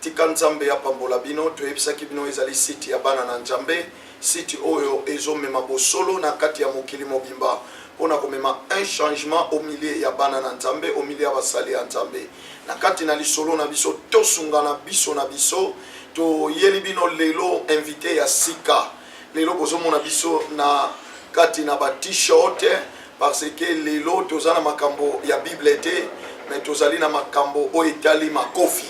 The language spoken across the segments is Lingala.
Tika nzambe apambola bino toyebisaki bino ezali site ya bana na njambe site oyo ezo mema bosolo na kati ya mokili mobimba pona komema un changement au milieu ya bana na nzambe au milieu ya basali ya nzambe na kati na lisolo na biso tosungana biso na biso toyeli bino lelo invite ya sika lelo bozomona biso na kati na ba t-shirt parce que lelo toza na makambo ya bible te mais tozali na makambo oyo etali makofi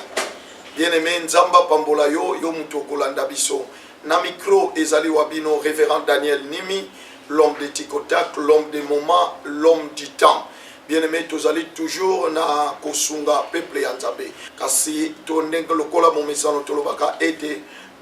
bien aimé nzambe apambola yo yo moto okolanda biso na micro ezali wa bino révérend daniel nimi l'homme de ticotac l'homme de moment l'homme du temps bien aimé tozali toujours na kosunga peuple ya nzambe kasi to ndenge lokola momesano tolobaka ete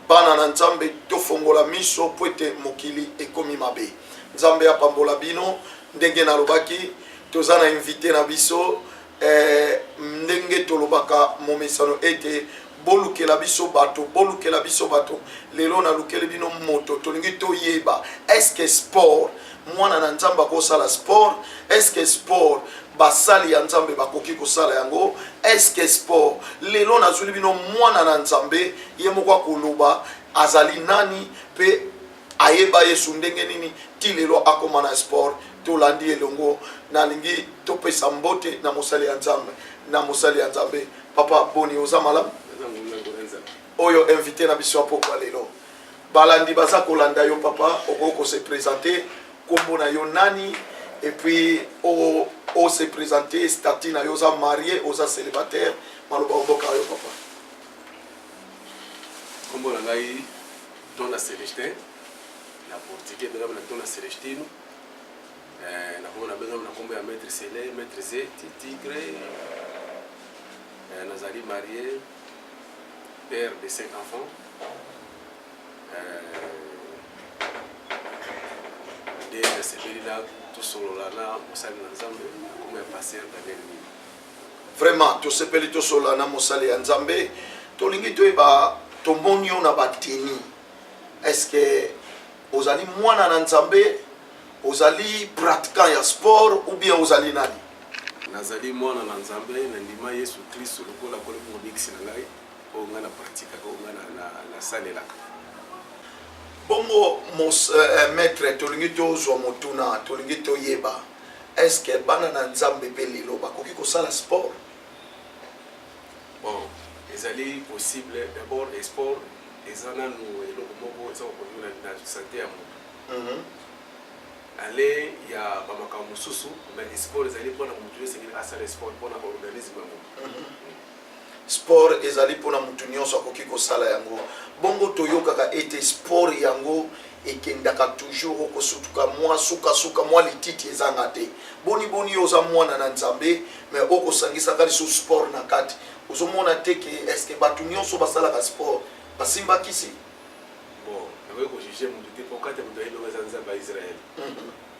Bana na nzambe tofongola miso po ete mokili ekomi mabe nzambe apambola bino ndenge nalobaki toza na invite na biso eh, ndenge tolobaka momesano ete bolukela biso bato bolukela biso bato lelo nalukeli bino moto tolingi toyeba eske sport mwana na nzambe akosala sport eske sport basali ya nzambe bakoki kosala yango eske sport lelo nazwili bino mwana na nzambe ye moko akoloba azali nani mpe ayeba yesu ndenge nini ti lelo akoma na sport tolandi elongo nalingi topesa mbote na mosali ya nzambe na mosali ya nzambe papa boni oza malamu oyo invité na biso ya pokwa lelo Balandi baza kolanda yo papa, okoki ko se presenter kombo na yo nani et puis o o se presenter statut na yo oza marie oza célibataire maloba oboka yo papa. Kombo na ngai Dona Celestin na portugais bengami na Dona Celestino eh, na kombo na bengami na kombo ya maître Sele, maître Zeti, Tigre eh, nazali marie père de cinq enfants nde euh, nasepeli na tosolola na mosali na nzambe akoma ya paster daniel mini vraiment tosepeli tosolola na mosali ya nzambe tolingi toyeba tomoni yo na bateni est ce que ozali mwana na nzambe Ozali pratiquant ya sport ou bien ozali nani? Nazali mwana na Nzambe, nandima Yesu Klisto lokola Nkolo mpe Mobikisi na ngai, oyo ngai na pratikaka, oyo ngai na, na, nasalelaka. Bongo mos, eh, eh maître, tolingi tozwa motuna, tolingi toyeba est-ce que bana na Nzambe mpe lelo bakoki kosala sport? Bon, ezali possible. D'abord, sport eza nanu eloko moko eza kokonyola na sante ya moto Aller ya ba makambo mosusu mais sport ezali pona mutu nionso esengeli asala sport pona organisme yango. Sport ezali pona mutu nionso akoki kosala yango bongo toyokaka ete sport yango ekendaka toujours okosutuka mwa suka suka mwa lititi ezanga te boni boni yo oza mwana na Nzambe mais okosangisaka lisusu sport na kati ozomona te ke eske batu nionso basalaka sport basimbakisi Bon nakoki ko juger mutu te po kati ya mutu nayebi yango eza nzambe ya Israël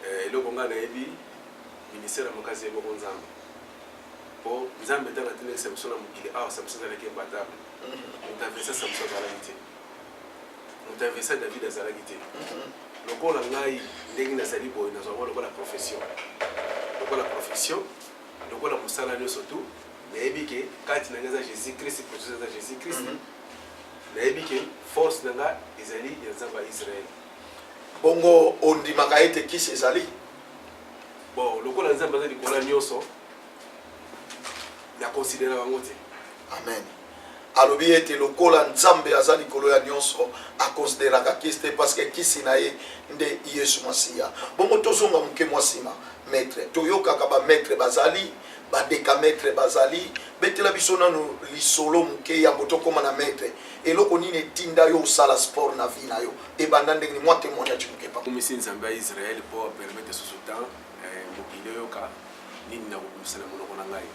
eh eloko ngai nayebi ministère ya makasi ya eboko nzambe po nzambe tango atindaki Samson na mokili awa Samson azalaki imbattable mutu aversa Samson azalaki te mutu aversa David azalaki te lokola ngai ndenge nazali boye nazwa yango lokola profession lokola profession lokola mosala nionso tout nayebi ke kati na ngai eza Jésus Christ profession eza Jésus Christ Nayebi ke force na nga ezali ya Nzambe ya Israel. Bongo ondimaka ete kisi ezali? Bon, lokola Nzambe aza likolo ya nyonso, na consideraka yango te. Amen. alobi ete lokola nzambe aza likolo ya nyonso akonsideraka kisi te parceke kisi na ye nde yesu masiya bongo tozonga moke mwa nsima maître toyokaka bamaître bazali Ba decametre bazali? Betela biso nanu lisolo muke yambo tokoma na maitre. Eloko nini etinda yo osala sport na vie na yo? Ebanda ndenge nini? Mwa temoignage muke papa. Nakumisi Nzambe ya Israël po a permettre lisusu temps eh, mokili eyoka nini nakokumisa na monoko na ngai.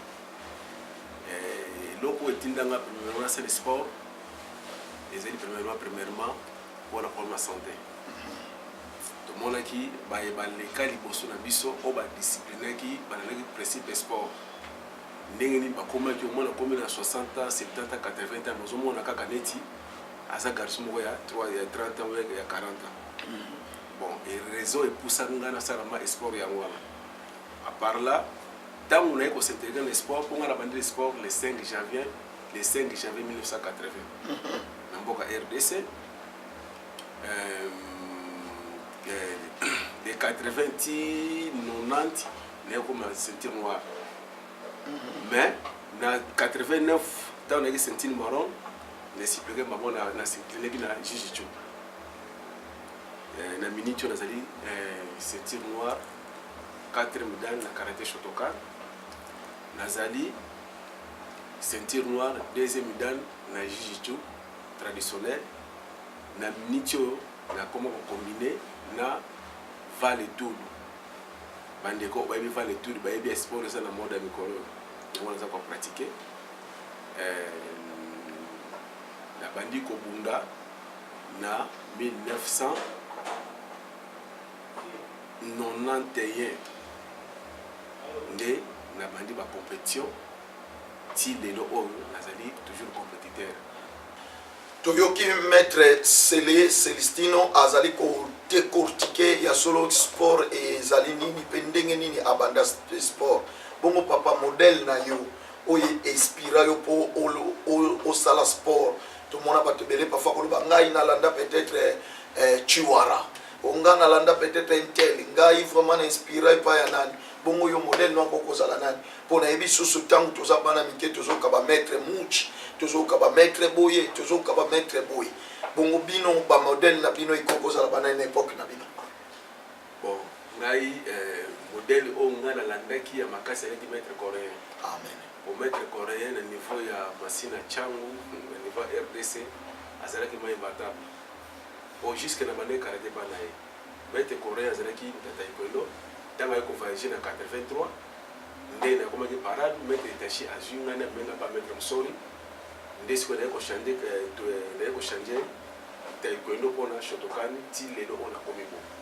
Eh, eloko oyo etinda ngai premièrement nasali sport ezali premièrement premièrement pona problème ya sante. Tomonaki baye baleka liboso na biso oyo ba disciplinaki, balandaki principe ya sport ndenge nini bakomaki, omoni akomi na 60 ans, 70 ans, 80 ans mais ozomona kaka neti aza garçon moko ya 30 ans ou bien ya 40 ans. Bon et raison epusaki ngai nasala ma sport yango wana. A part là, tango naye ko s'integrer na sport, mpo ngai nabandi le sport le 5 janvier, le 5 janvier 1980 na mboka rdc, de 80 ti 90 nakoma ceinture noire mais na 89 ntango nayaki ceinture maron nesiplike bango nasipleleki na juge jo na minute oyo nazali ceinture noire 4 medane na karate shotokan nazali ceinture noire deuxième medane na juge jo traditionnel na minute oyo na koma ko combine na vale tudu ba ndeko bayebi vale tudu bayebi ya sport eza na mode ya mikolo oyo yango naza ko pratique euh, na bandi kobunda na 1900 91 nde nabandi bacompetition ti lelo oyo nazali toujours compétiteur Toyoki maitre Cele Celestino azali ko decortiquer ya solo sport ezali nini pe ndenge nini abanda sport. Bongo papa modèle na yo oyo e inspira yo po osala sport? Tomona batu ebele parfois koloba ngai nalanda peut etre Tshiwara, oh ngai nalanda peut etre un tel, ngai vraiment na inspira epai ya nani? Bongo yo modèle na yo akoki kozala nani? mpo nayebi lisusu ntango toza bana mike tozoyoka bamaitre mouch tozoyoka bamaitre boye tozoyoka bamaitre boye bongo bino bamodele na bino ekoki kozala banani na epoke na bino bon ngai eh, modele oyo ngai nalandaki ya makasi alaki maitre coréen amen po maitre coréen na niveau ya masina changu na niveau ya rdc azalaki mai batable po jusque na bande karate bana ye Maître Corneille azalaki N'Tataekwendo tango aye ko voyager na 83 nde nakomaki parade Maître Hitachi azui ngai na mema epa Maître Msori nde sikoyo naye ko changer naye ko changer Taekwendo pona Shotokan ti lelo oyo nakomi boye.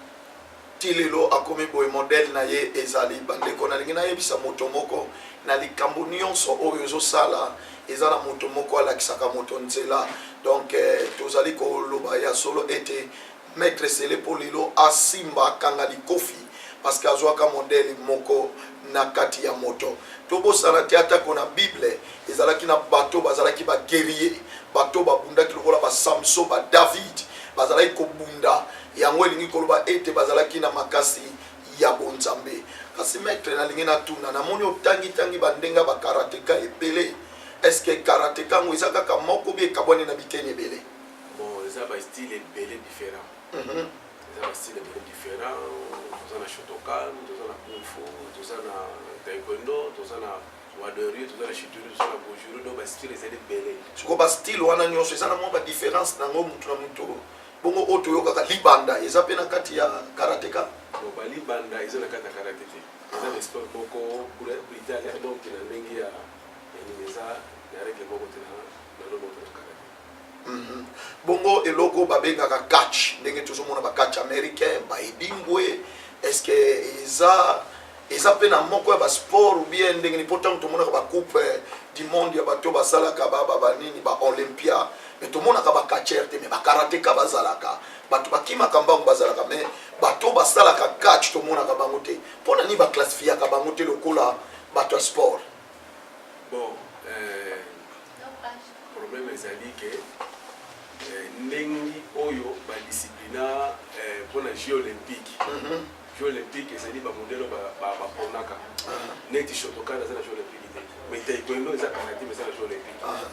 ti lelo akomi boye modèle na ye ezali bandeko nalingi nayebisa moto moko na likambo nyonso oyo ozosala eza na moto moko alakisaka moto nzela donc eh, tozali koloba ya solo ete Maitre sele po lelo asimba akanga likofi parceque azuaka modele moko na kati ya moto tobosana te ata ko na bible ezalaki na bato bazalaki ba guerier bato babundaki lokola ba samso ba david bazalaki kobunda yango elingi koloba ete bazalaki na makasi ya bonzambe kasi maitre nalingi natuna namoni otangi tangi bandenga ba karateka ebele eske karateka yango eza kaka moko bi ekabwani na biteni ebele Bon eza ba style ebele different. Eza ba style ebele different. Toza na Shotokan, toza na Kung Fu, toza na Taekwondo, toza na Wadori, toza na Shituri, toza na Bujuru, donc ba style ezali ebele. Sikoyo ba style wana nyonso eza na mwa ba difference na yango moto na moto. Bongo oyo toyokaka libanda eza mpe na kati ya karateka? Bon ba libanda eza na kati ya karate te. Eza na sport moko brutale donc na ndenge ya ya nini eza na règle moko te na na loboto na karate. Mhm. bongo eloko babengaka catch ndenge tozomona ba catch américain baedingwe est ce que eza eza mpe na moko ya basport ou bien ndenge nini mpo ntango tomonaka bacoupe eh, du monde ya bato basalaka banini baolympia me tomonaka bacatcher te me bakarateka bazalaka bato bakimaka mbango bazalaka me bato basalaka catch tomonaka bango te mpo na nini baclassifiaka bango te lokola bato ya sport bon euh, Problème ezali que eh, ndenge oyo ba disciplina eh, pour les jeux olympiques mhm. jeux olympiques ezali ba modèle ba ba ponaka ah. neti shotokan eza na jeux olympique te mais taekwondo eza karate mais eza na jeux olympique ah.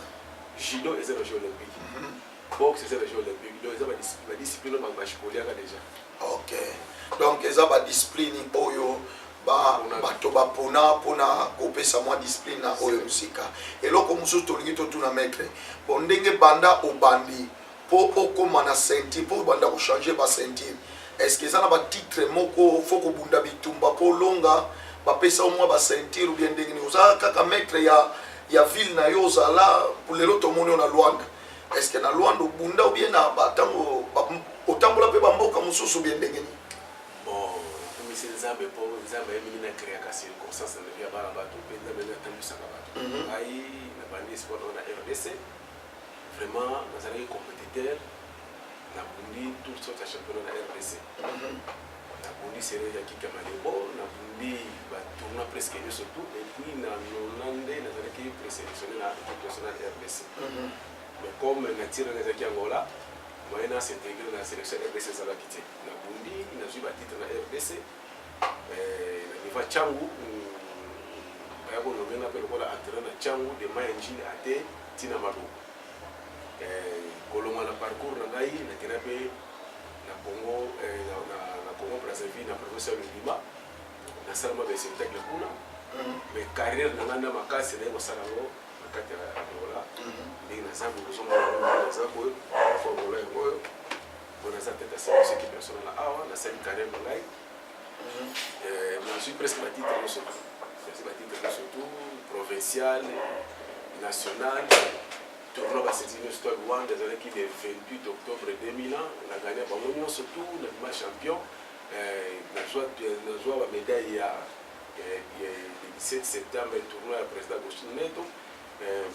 judo eza na jeux olympique mhm. boxe eza na jeux olympique donc eza ba discipline ba bashikoliaka déjà Ok donc eza ba discipline oyo bato bapona mpona kopesa mwa discipline na oyo mosika eloko mosusu tolingi totuna maitre po ndenge banda obandi mpo okóma na ceinture mpo obanda kochange ba ceinture est ce que eza na batitre moko fo kobunda bitumba mpo olonga bapesa omwa ba ceinture ou bien ndenge nini oza kaka maitre ya, ya ville na yo ozala lelo tomoni yo na luanda Est ce que na Luanda obunda ou bien na ba tango otambola pe ba mboka mususu bien ndenge nini? Bon, kumisi Nzambe po Nzambe ayebi nini na creaka circonstance na vie ya bana batu pe Nzambe nde atambwisaka batu. Mm -hmm. Ngai na bandi sport na RDC vraiment nazalaki competiteur na bundi tout sorte ya championnat na RDC. Mm -hmm. Na bundi serie ya Kika Malebo, na bundi ba tournois presque nioso tout et puis na 92 nazalaki preselectionne na equipe nationale rdc. Mais comme nature na ngai ezalaki Angola, moyen na s'integrer na selection ya rdc ezalaki te. Na bundi, nazui ba titres na rdc, eh, na niveau ya Tshangu, mm, baya ko nommer nga mpe lokola entraîneur na Tshangu de Maya Njili Ate ti na Maloba. Eh, kolongwa na parcours na ngai, nakenda mpe na Congo, eh, na, na, na Congo Brazzaville, na province ya Lubima, nasala mwa baespectacle kuna mm. mais carrière na ngai na makasi naye kosala yango na kati ya Angola mm-hmm. ndenge naza kozongaza boye formula yango oyo mpo naza tete ya service qui personnel awa nasali carrière na ngai mm-hmm. eh, nazwi presque batitre nyonso presque batitre nyonso tout provincial national Tournoi Basket Inno Stade Wanda ezalaki le 28 octobre 2000 ans, na gagna bango nyonso tout, na bima champion, nazwa ba medaille ya le 17 septembre tournoi ya président Agustin Neto,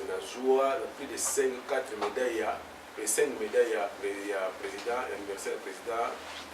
nazwa na plus de 5 4 medaille ya 5 medaille ya président anniversaire ya président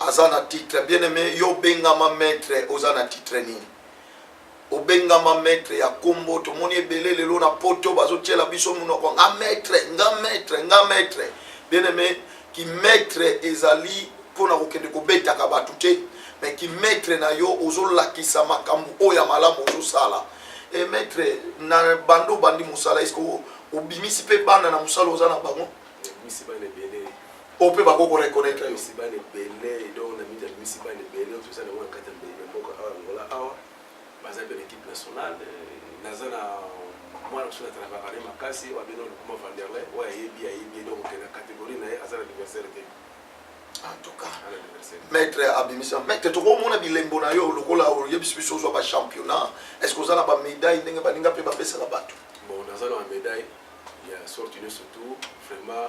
aza na titre bien aime yo obengama maitre oza na titre nini obengama maitre ya kombo tomoni ebele lelo na poto bazotiela biso monoko nga maitre nga maitre nga maitre bien aime ki maitre ezali mpo na kokende kobetaka bato te me ki maitre na yo ozolakisa makambo oyo ya malamu ozosala e maitre na bando obandi mosala eske obimisi mpe bana na mosala oza na bango oyo mpe bakoki ko reconnaitre yo misiba na ebele donc na midi ya misiba na ebele oyo toza na yango na kati ya mbeli ya mboka awa angola awa baza mpe na équipe nationale naza na mwana mosusu natalakaka ne makasi oyo abino lukuma vanderle oyo ayebi ayebi donc ke na catégorie na ye aza na adversaire te en tout cas maître abimisa maître tokomona bilembo na yo lokola oyebisi biso ozwa bachampionnat est ce que oza na bamédaille ndenge baninga mpe bapesaka bato bon naza na bamédaille ya sorte nyonso tout vraiment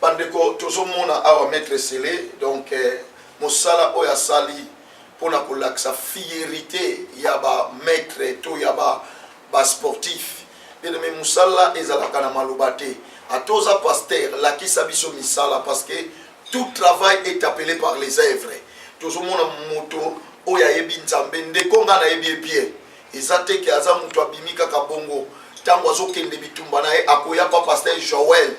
Bandeko tozomona awa maitre Sele donc eh, mosala oyo asali mpo na kolakisa fierite ya ba maitre to ya ba ba sportif me mosala ezalaka na maloba te ata oza paster lakisa biso misala parce que tout travail est appelé par les œuvres tozomona moto oyo ayebi nzambe ndeko ngai nayebi ye bien Eza te ke aza mutu abimi kaka bongo tangu azokende bitumba na ye akoya pa pasteur Joel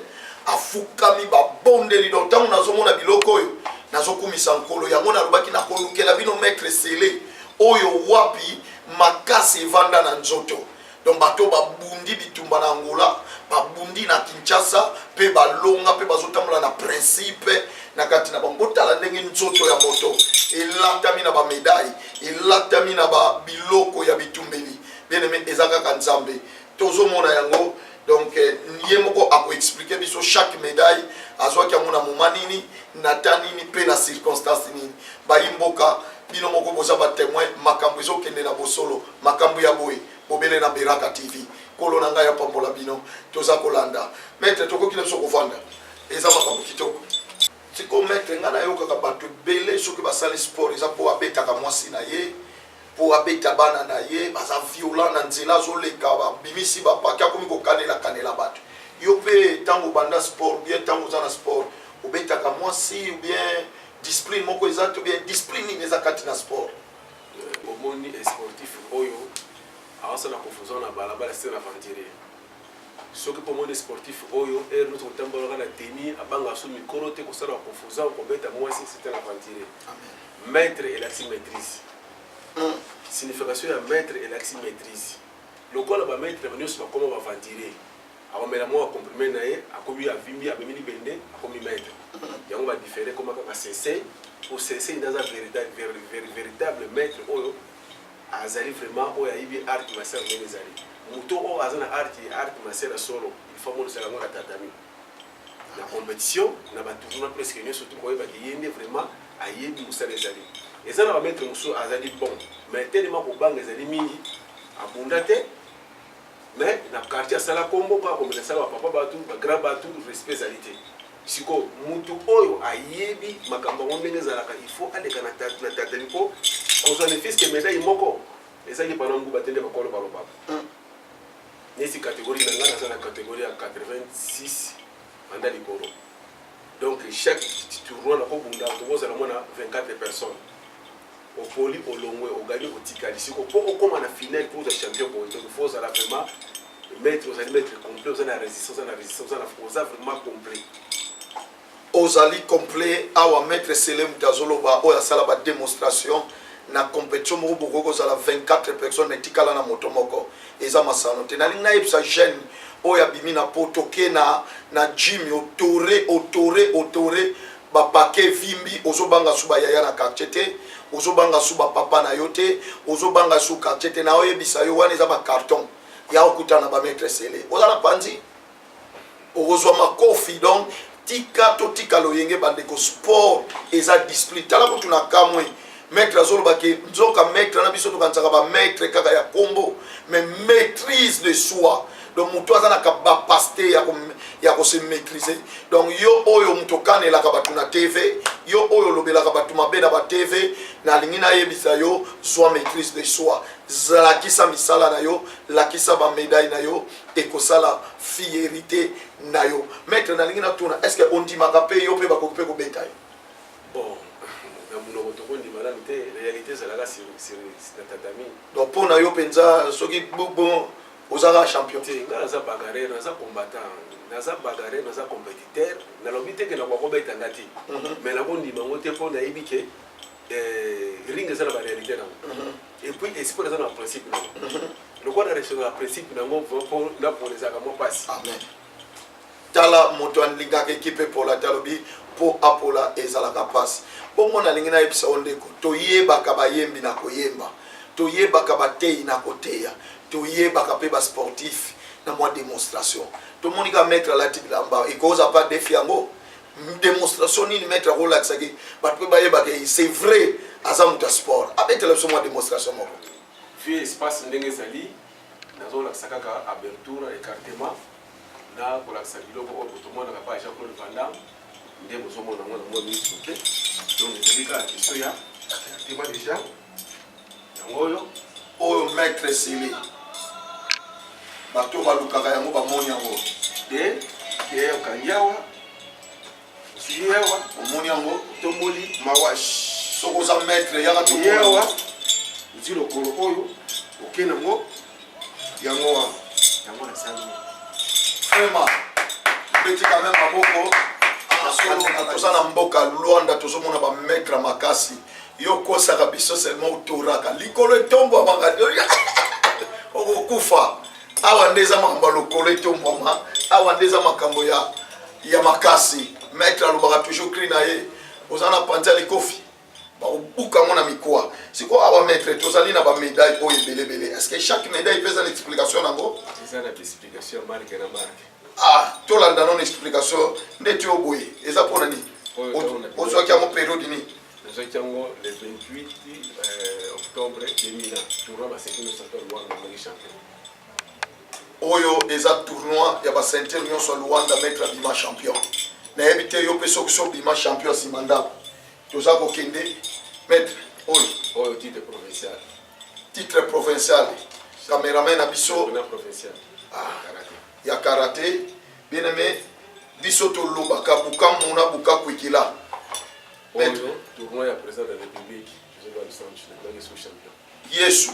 afukami babondeli donc tangu nazomona biloko oyo nazokumisa nkolo yango nalobaki nakolukela bino maitre sele oyo wapi makasi evanda na nzoto donc bato babundi bitumba na angola babundi na kinshasa mpe balonga mpe bazotambola na principe na kati na bango botala ndenge nzoto ya moto elatami na bamedaille elatami na ba biloko ya bitumbeli bien aime eza kaka nzambe tozomona yango donc eh, ye moko akoexplike biso chaque médaille azwaki yango na moma nini na ta nini mpe na circonstance nini bayi mboka bino moko boza batemoin makambo ezokende na bosolo makambo ya boye bobele na beraka tv kolo na ngai apambola bino toza kolanda maitre tokoki na biso kovanda eza makambo kitoko Sikoyo maitre nga nayokaka batu ebele soki basali sport eza po abetaka mwasi na ye po abeta bana na ye baza violent na nzela azoleka babimisi ba paquet akomi kokanela kanela batu yo pe tango obanda sport bien tango oza na sport obetaka mwasi ou bien discipline moko eza te bien discipline nini eza kati na sport omoni sportif oyo awasala confusion na balabala se na aventurier Soki pe omoni sportif oyo heure nioso kotambola kaka na tenue, abangaka su mikolo te, kosala ba confusions, kobeta muasi c'est un aventurier. Maitre elakisi maitrise. Signification ya maitre elakisi maitrise. Lokola ba maitre nioso bakoma ba aventurier, akomela mua ba comprime na ye, akomi avimbi, amemi libende, akomi maitre. Yango ba differe ekoma kaka sensei ou sensei nde aza veritable maitre oyo Azali vraiment oyo ayibi art master ndenge ezali moto oyo aza na art ye art master ya solo il faut amonisaka yango na tatami na competition na ba tournoi presque nionso tout koyeba ke ye nde vraiment ayebi mosala ezali eza na ba maître mosusu azali bon mais tellement kobanga ezali mingi abunda te mais na quartier asala kombo mpo akomela sala ba papa batu ba grand batu respect ezali te Sikoyo mutu oyo ayebi makambo yango ndenge ezalaka il faut aleka na tatali po kozwa ne fils que medaille moko eza lipa na nguba te nde bakolo balobaka. Neti categorie na nga naza na categorie ya 86 banda likolo donc chaque tournoi nakobunda tokozala mwa na 24 personnes opoli olongwe ogani otikali siko po okoma na finale po ozwa champion boye donc faut ozala vraiment maître ozali maître complet oza na résistance oza na résistance oza na fo oza vraiment complet ozali complet awa maître sele moto azoloba oyo asala bademonstration na compétition moko bokoki kozala 24 personnes na etikala na moto moko eza masano te nalingi nayebisa jeune oyo abimi na po toke na, na jimi otore otore otore bapake vimbi ozobanga su bayaya na quartier te ozobanga su bapapa na yo te ozobanga su quartier te naoyebisa yo wana eza bacarton ya kokutana na bametre sele oza na panzi okozwa makofi donc tika totika loyenge bandeko sport eza discipline tala kutu na kamwe maître azoloba ke nzoka maître na biso tokanisaka bamaître kaka ya kombo mais maîtrise de soi donc moto aza na capacité ya kose maîtrise donc yo oyo moto okanelaka bato na tv yo oyo olobelaka bato mabe na batv nalingi nayebisa yo zwa maîtrise de soi Lakisa misala na yo, lakisa ba medailles na yo, ekosala fierite na yo. Maitre nalingi natuna, est-ce que ondimaka pe yo pe bakoki pe kobeta yo? Bon, na munoko tokondima nanu te, realite ezalaka sur sur na tatami. Donc pona yo penza soki bon ozaka champion? Te, nga naza bagarre, naza combattant. naza bagarre naza compétiteur nalobi te ke nakoka kobeta nga te mais nakondima yango te mpo nayebi ke ring eza na barealité nango mhm. epuis esport eza na principe nango mhm. lokola na respecte na principe nango mpo napona ezalaka mwa mpasi tala moto alingaka ekipe pola talobi mpo apola ezalaka mpasi bongo nalingi nayebisa yo ndeko toyebaka bayembi na koyemba toyebaka bateyi na koteya toyebaka mpe basportif na mwa demonstration tomoni ka maître alati bilamba ekoza mpa defi yango demonstration nini maître akolakisaki bato mpe bayebaka ye c'est vrai aza moto ya sport abetela biso mwa demonstration moko vie espace ndenge ezali nazolakisa kaka aberture écartement na kolakisa biloko oyo botomonaka pa jean claude vandam nde bozomona yango na mwa miso te donc ezali kaka question ya écartement déjà Yango oyo oyo maître esili bato balukaka yango bamoni yango de de okangi awa osili awa omoni yango otomboli mawash soki oza maître yaka toyewa ozwi lokolo oyo okende yango yango wana yango nasali vraiment beti quand même maboko toza na mboka luanda tozomona bamaitre makasi yo okosaka biso seulement otoraka likolo etombwamaka okokufa awa nde eza makambo ya lokolo etombwama awa nde eza makambo ya, ya makasi maitre alobaka toujours cri na ye oza na panza likofi bakobuka yango na mikuwa sikoyo awa maître tozali na bamedaille oyo ebelebele est ce que chaque medaille mpe eza na explication na yango eza na explication marke na marke ah tolanda nono explication nde ti oboye eza mpo na nini ozwaki yango periode nini nazwaki yango le 28 euh, octobre 2000 tournoi basekino santo luanga moni champion oyo eza tournoi ya bacenture nyonso ya luanda maître abima champion nayebi te yo mpe soki so obima champion nsima ndako Toza ko kende maître oyo oyo titre provincial. Titre provincial. Cameraman na biso na provincial. Ah, karate. Ya karate. Bien aimé biso to lobaka bukamu na bukaku ikila. Maître tournoi ya président de la République. Je vais le centre, je vais le champion. Yesu.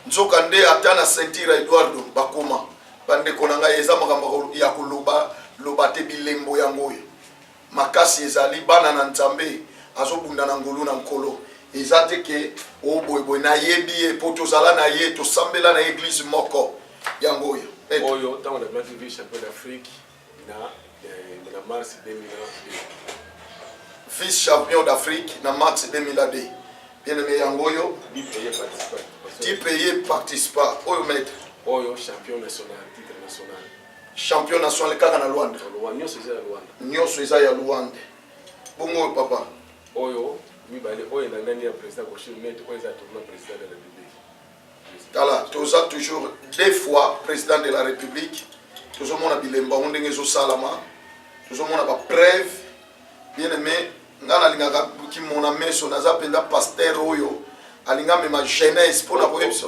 Nzoka nde ata na Saint-Ira Eduardo bakoma bandeko na ngai eza makambo ya koloba loba te bilembo yango oyo makasi ezali bana na nzambe azo bunda na ngolu na nkolo eza te ke o oh, boye boye nayebi ye po tozala na ye tosambela na eglise moko yango oyo oyo ntango nabimaki vie champion d'afrique na eh, na mars 2002 vice champion d'afrique na mars 2002 bien aimé yango oyo dipeye participa oyo maître oyo champion national titre national champion national kaka na luanda nyonso eza ya luanda bongo oyo papa oyo mibale oyo elandani ya président koshir net oyo eza tourna président de la république tala toza toujours deux fois président de la république tozomona bilembo yango ndenge ezosalama tozomona bapreuve bien aimé ngai nalingaka kimona meso naza mpenza paster oyo alinga mema jeunesse mpo na koyebisa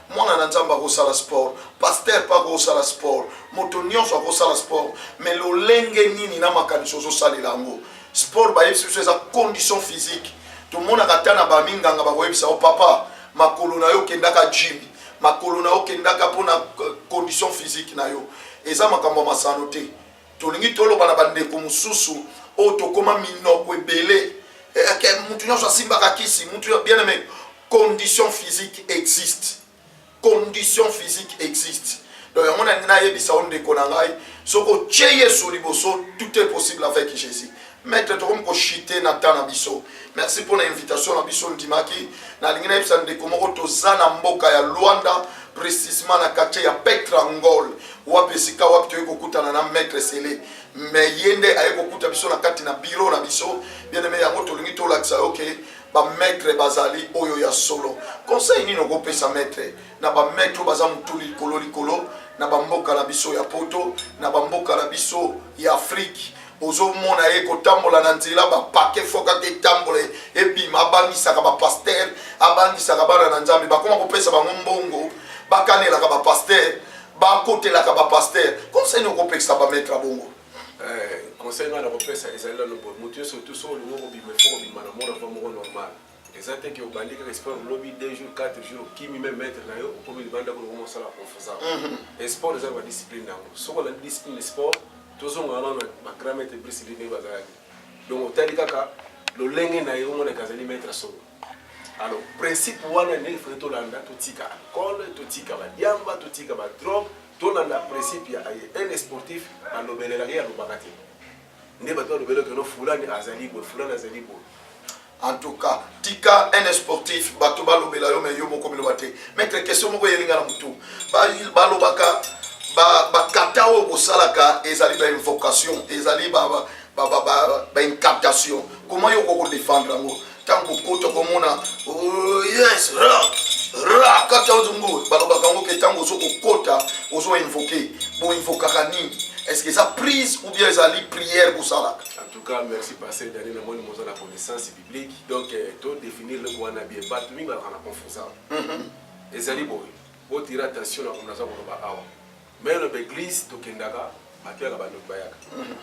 mwana na nzambe akosala sport paster mpe akosala sport moto nyonso akosala sport mais lolenge nini na makanisi ozosalela yango sport bayebisi biso eza condition physique tomonaka ata na baminganga bakoyebisa yo papa makolo na yo okendaka jimi makolo na yo okendaka mpona euh, condition physique na yo eza makambo ya masano te tolingi toloba na bandeko mosusu oyo tokoma minoko ebele eh, eh, mutu nyonso asimbaka kisi mutu bien aimé condition physique existe condition physique existe donc yango nalingi nayebisa yo ndeko na ngai soki otye yesu liboso tout est possible avec jésus Maitre tokomi ko chute na temps na biso. Merci mpo na invitation na biso ndimaki. Nalingi nayebisa ndeko moko toza na mboka ya Luanda precisement na quartier ya Petrangol wapi esika wapi toyei kokutana na Maitre Sele mais ye nde aye kokuta biso na kati na bureau na biso bien aime yango tolingi tolakisa yo ke bamaitre bazali oyo ya solo conseil nini okopesa maitre na bamaitre oyo baza motu likolo likolo na bamboka na biso ya poto na bamboka na biso ya afrike ozomona ye kotambola na nzela bapake fokaka etambola ebima abangisaka bapastere abangisaka bana na nzambe bakoma kopesa bango mbongo bakanelaka bapastere bakotelaka bapastere konseni okopekisa bametre bongo eh, conseil ngai nakopesa ezali nano boye moto nyonso tu so olingi kobima ifo kobima na mona mpo moko normal Eza te que obandi kaka sport lobi deux jours quatre jours okimi meme maitre na yo okomi libanda kuna okoma osala confusa mhm. sport eza na ba discipline na yango soki olandi discipline ya sport tozonga wana na ba grand maitre brice line bazalaki donc otali kaka lolenge na ye omonaka azali maitre solo alors principe wana ndenge fai tolanda totika alcool totika badiamba totika badrogue tolanda principe ya un sportif balobelelaka ye alobaka te nde bato balobelaka no fulani azali boye fulani azali boye En tout cas, tika un sportif, bato balobela yo mais yo moko biloba te. Maître question moko yelinga na mutu. Ba balobaka ba ba kata oyo bosalaka ezali ba invocation, ezali ba ba ba ba, ba, ba incantation. Comment yo koko défendre yango? Tango kota komona oh yes rock rock kata ozungu balobaka yango ke tango ozo kokota ozo invoquer. Bo invokaka nini? Est-ce que eza prise ou bien ezali prière bosalaka? cas merci pasteur Dani na moni moza na connaissance biblique donc euh, to définir le wana bien bato mingi balaka na confusa mhm. ezali boye botira attention na komona aza koloba awa mai loba église tokendaka bato yaka bandoki bayaka mhm.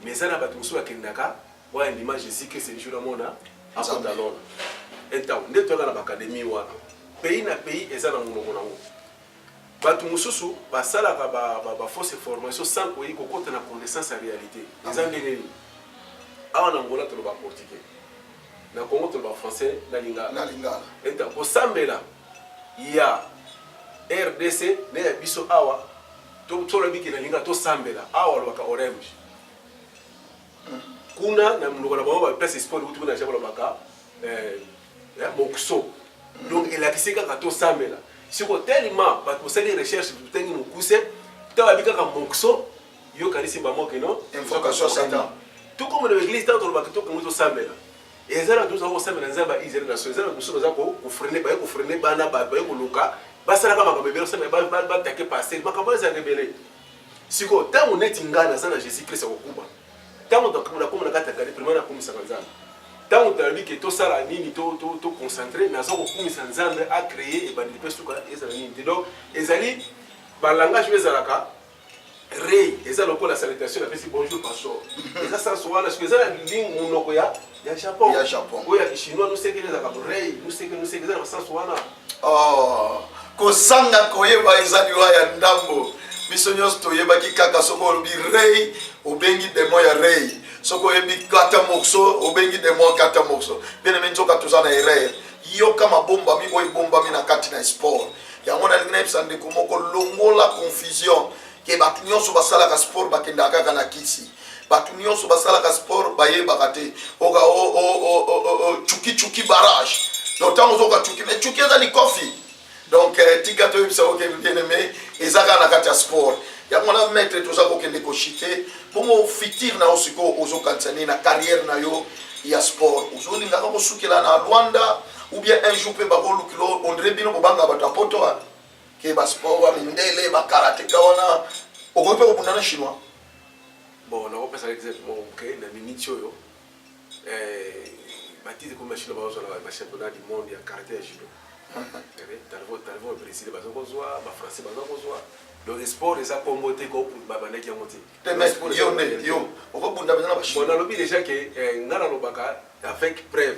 mais eza na bato mosusu bakendaka oyo andima jésus christ le jour amona akota lona entango nde toyaka na baakademi wana pays na pays eza na monoko nango Batu mususu ba salaka ba ba fausse information sans koyi ko kota na connaissance ya realite. Eza ndenge nini? Awa na Angola toloba portugais. Na Congo toloba français na lingala. Na lingala. Eta ko sambela ya RDC na ya biso awa to tolo biki na lingala to sambela awa lobaka orange. Kuna na mnoko na bango ba place sport kutu na jabolo baka eh na mokso donc elakisi kaka tosambela siko telema bato bosali recherche totangi mokuse to babi kaka mokso yo kanisi bango kino tokomona baeglise ntango tolobaka tokongi tosambela eza na tozala kosambela nzambe ya israel naso eza na mosusu baza kofrene baye kofrene bana bato baye koluka basalaka makambo ebele osambela batake paster makambo ezalaka ebele sikoyo ntango neti ngai naza na jésus christ akokuba Tango tokabola kombo na kati ya cahier primaire nakumisaka Nzambe. Tango toyebi ke tosala nini to to to concentrer naza kokumisa Nzambe a creer ebandeli pe suka ezala nini te. Donc ezali ba langage oyo ezalaka rei eza lokola salutation napesi bonjour pastor eza sans wana soki eza na monoko ya ya japon ya japon oyo ya kishinois nusekele ezalaka brei nuseke nuseke eza na basansu wana oh, kozanga koyeba eza liwa ya ndambo biso nyonso toyebaki kaka soki olobi rei obengi demo ya rei soki oyebi kata morso obengi demo kata morso bieneme nzoka toza na erreur yoka mabombami oyo ebombami na kati na sport yango nalingi nayebisa ndeko moko longola confusion ke bato nyonso basalaka sport bakendaka kaka na kisi bato nyonso basalaka sport bayebaka te oka cuki cuki barrage donc ntango ozoka cuki mais cuki eza likofi donc eh, tika toyebisa oke bien aime eza kaka na kati ya sport yango na maître toza kokende koshite bongo fitir na yo sikoyo ozokanisa nini na carrière na yo ya sport ozolingaka kosukela na rwanda ou bien un jour mpe bakolukila ondire bino kobanga bato ya poto wana ke basport ya mindele bakarateka wana okoki mpe kobunda na chinois Bon, nakopesa exemple moko moke na miniti oyo eh, batite ekomi bashino bazozwa na bachampionnat du monde ya karate ya judo talvo talvo brésil baza kozwa bafrançais baza kozwa donc sport eza kombo te ko babandaki yango te nalobi déjà ke eh, ngai nalobaka avec preuve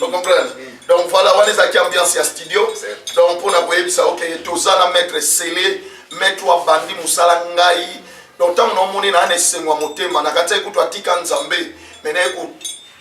ocomprendre donc voilà wana ezalaki ambiance ya studio donc mpo na koyebisa yo ke toza na maître sele maître abandi mosala ngai donc ntango naomoni naa na esengo ya motema na kati ekutu atika nzambe me naye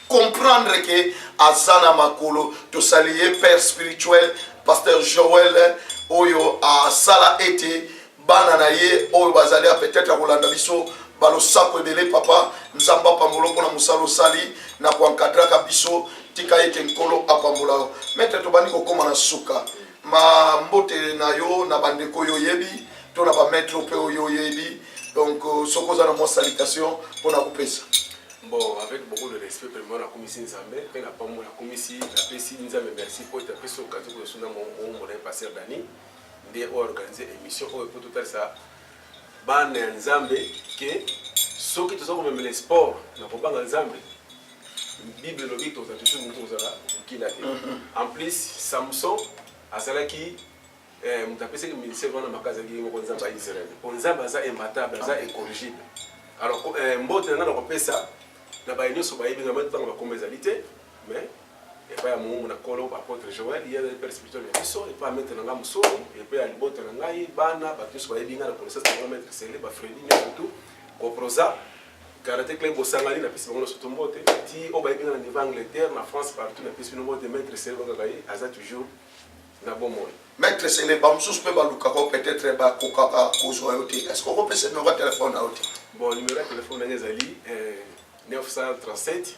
kocomprendre ke aza na makolo tosali ye père spirituel pasteur joel oyo asala ete bana na ye oyo bazali a peut-etre ya kolanda biso balosako ebele papa nzambe apambola mpona mosala osali na koankadraka biso tika ete nkolo apambola yo maitre tobandi kokóma na suka ma mbote na yo na bandeko oyo oyebi to na bamaitre mpe oyo oyebi donc euh, soki oza na mwa salitation mpona kopesa bon avec beaucoup de respect vraiment nakumisi nzambe mpe na pambo nakumisi napesi nzambe merci mpo ete apesi okazi koyosuna momo molaye paster dani nde o organiser emission oyo mpo totalisa bana ya nzambe ke soki toza komemela sport na kobanga nzambe bible elobi toza tutu motu kozala mokila te mhm. en plus samson azalaki eh, moto apesaki ministère wana maka azalaki ye moko nzambe ya israel mpo nzambe aza imbatable aza incorrigible alors eh, mbote na nga na kopesa na baye nyonso bayebi nga mai ntango bakoma ezali te mais epai ya moumbu na Nkolo, ba Apotre Joel, ye azali père spirituel na biso, epai ya maitre na ngai Musoni, epai ya libota na ngai, bana, bato nyonso bayebi ngai na connaissance na ngai maitre Sele, ba Freddy Nyakutu, Koproza, Karate Club Bosangani, napesi bango nyonso mbote, ti oyo bayebi ngai na niveau Angleterre, na France, partout, napesi bino mbote, maitre Sele bakaka ye, aza toujours na bomoi. Maitre Sele, ba mosusu mpe balukaka yo peut-être bakokaka kozwa yo te, est-ce que okopesa numero ya telefone na yo te? Bon, numero ya telefone na ngai ezali eh, 937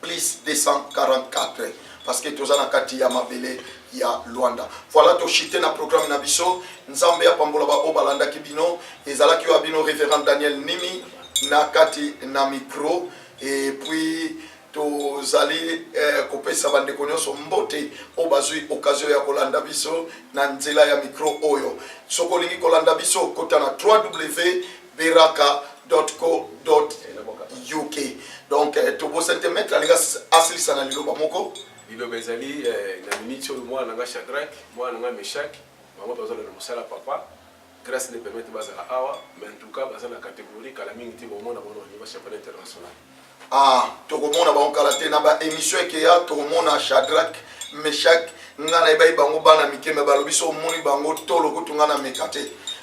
plus 244 parce que toza na kati ya mabele ya Luanda. Voilà to chite na programme na biso. Nzambe apambola ba obalanda ki bino. Ezalaki wa bino révérend Daniel Nimi na kati na micro et puis tozali eh, kopesa bandeko nyonso mbote oyo bazwi okazio ya kolanda biso na nzela ya mikro oyo soki olingi kolanda biso kota na 3w beraka co uk donc eh, tobosani te maître alinga asilisa na liloba moko liloba ezali eh, na miniti oyo mwana na nga chadrak mwana na nga meshak bango bazala na mosala papa grâce ne permettre bazala awa mais en tout cas baza na catégorie kala mingi te bomona bango na niveau championnat international Ah, tokomona bango kala te na ba emission ekeya, tokomona Shadrach, Meshach, nga na ebayi bango bana mike me balobi so omoni bango tolo kutu nga na meka te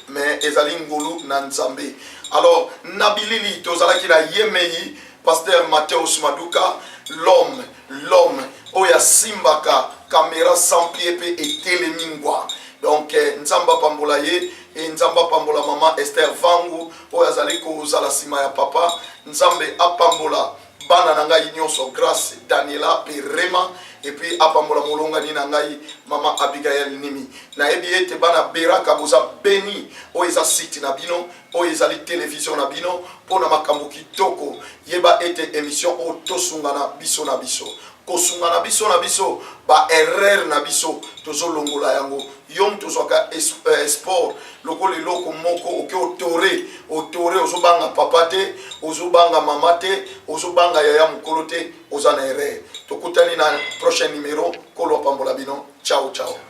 mais ezali ngolu na Nzambe. Alors na bilili tozalaki na yemei Pasteur Mateus Maduka l'homme l'homme oyo asimbaka kamera sans pie mpe etelemi ngwa donc eh, nzambe apambola ye e nzambe apambola mama esther vangu oyo azali kozala nsima ya papa nzambe apambola bana na ngai nyonso grace daniela mpe rema epuis apambola molongani na ngai mama abigail nimi nayebi ete bana beraka boza beni oyo eza site na bino oyo ezali televizio na bino mpo na makambo kitoko yeba ete emission oyo tosungana biso na biso kosunga na biso na biso ba erreur na biso tozolongola yango yo moto ozwaka eh, sport lokola eloko moko oke otore otore ozobanga papa te ozobanga mama te ozobanga yaya mokolo te oza na erreur tokutani na prochain numero kolo apambola bino ciao ciao